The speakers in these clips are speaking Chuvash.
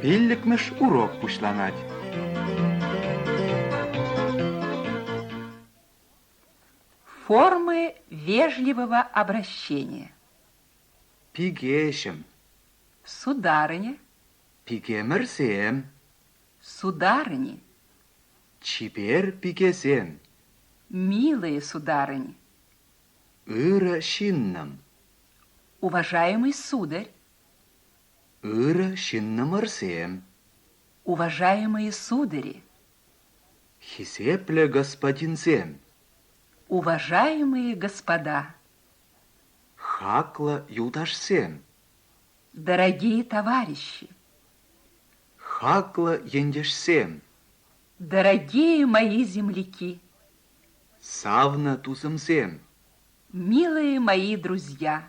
Пиллӗкмӗш урок пуҫланать. Формы вежливого обращения. Пикеҫӗм. Сударыня. Пикемӗрсем. Сударыни. Чипер пикесем. Милые сударыни. Ырӑ ҫыннӑм. Уважаемый сударь. Ырӑ ҫыннӑмӑрсем! Уважаемые судари! Хисеплӗ господинсем! Уважаемые господа! Хаклӑ юлташсем! Дорогие товарищи! Хаклӑ ентешсем! Дорогие мои земляки! Савнӑ тусӑмсем! Милые мои друзья!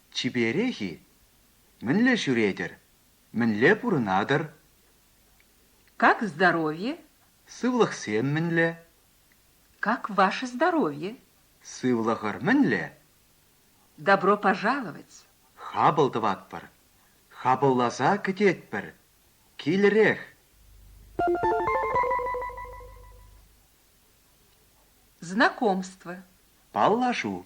Чиперех-и? Мӗнле ҫӳретӗр? Мӗнле пурӑнатӑр? Как здоровье? Сывлӑхсем мӗнле? Как ваше здоровье? Сывлӑхӑр мӗнле? Добро пожаловать! Хапӑл тӑватпӑр. Хапӑлласа кӗтетпӗр. Килӗрех! Знакомство. Паллашу.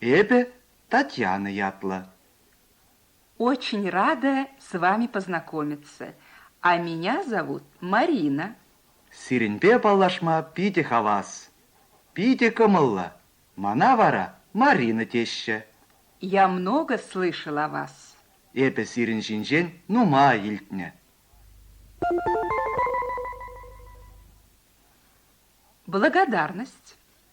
Эпӗ Татьяна ятлӑ. Очень рада с вами познакомиться. А меня зовут Марина. Сирӗнпе паллашма питӗ хавас. Питӗ кӑмӑллӑ. Мана вара Марина теҫҫӗ. Я много слышал о вас. Эпӗ сирӗн ҫинчен нумай илтнӗ. Благодарность.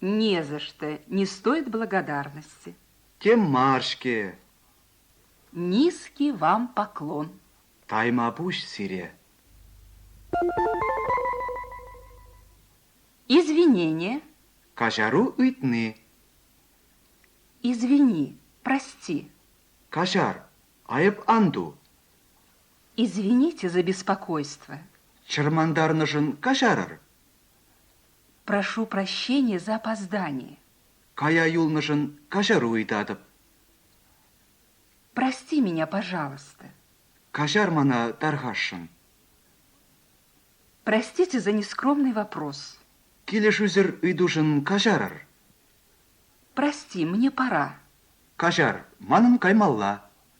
Не за что, не стоит благодарности. Тем мар-ҫке! Низкий вам поклон. Таймапуҫ сире. Извинения. Каҫару ыйтни. Извини, прости. Каҫар, айӑп ан ту. Извините за беспокойство. Чӑрмантарнӑшӑн каҫарӑр. Прошу прощения за опоздание. Кая юлнӑшӑн каҫару ыйтатӑп. Прости меня, пожалуйста. Каҫар мана, тархасшӑн. Простите за нескромный вопрос. Килӗшӳсӗр ыйтушӑн каҫарӑр. Прости, мне пора. Каҫар, манӑн каймалла.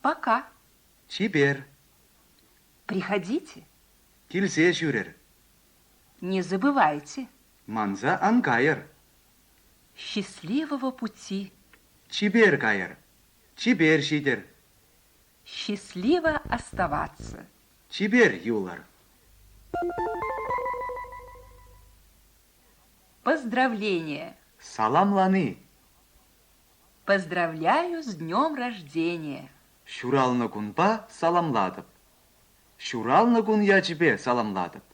Пока. Чипер. Приходите. Килсе ҫӳрер. Не забывайте. Манса ан кайӑр. Счастливого пути. Чипер кайӑр. Чипер ҫитӗр. Счастливо оставаться. Чипер юлӑр. Поздравления! Саламлани! Поздравляю с днем рождения! Ҫуралнӑ кунпа саламлатӑп. Ҫуралнӑ кун ячӗпе саламлатӑп.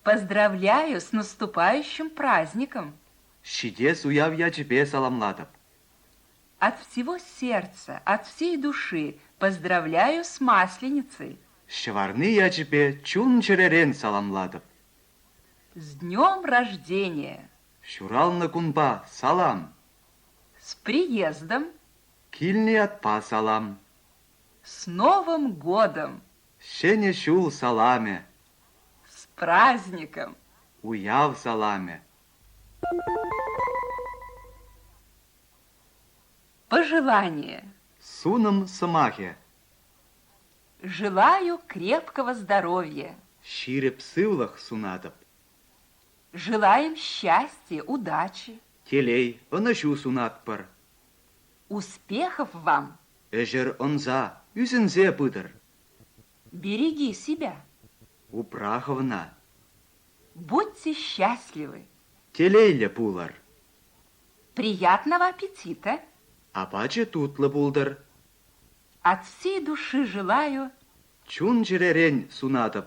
Поздравляю с наступающим праздником! Ҫитес уяв ячӗпе саламлатӑп. От всего сердца, от всей души поздравляю с Масленицей! Ҫӑварни ячӗпе чун-чӗререн саламлатӑп. С днем рождения! Ҫуралнӑ кунпа салам! С приездом! Килнӗ ятпа салам! С Новым годом! Ҫӗнӗ ҫул саламӗ! С праздником! Уяв саламӗ! Пожелание! Сунӑм сӑмахӗ! Желаю крепкого здоровья! Ҫирӗп сывлӑх сунатӑп! Желаем счастья, удачи. Телей, ӑнӑҫу сунатпӑр. Успехов вам! Ӗҫӗр ӑнса, ӳсӗнсе пытӑр. Береги себя. Упрахӑвна. Будьте счастливы. Телейлӗ пулӑр. Приятного аппетита. Апачӗ тутлӑ пултӑр. От всей души желаю. Чун-чӗререн сунатӑп.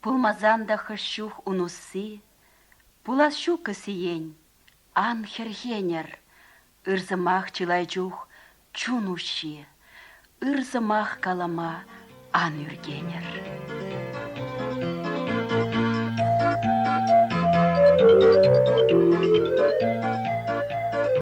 Пулмасан та хӑш чух ун усси, Пулас ҫуккӑ сиен, ан хӗрхенӗр. Ыр сӑмах чылай чух чун уҫҫи, Ыр сӑмах калама ан ӳркенӗр.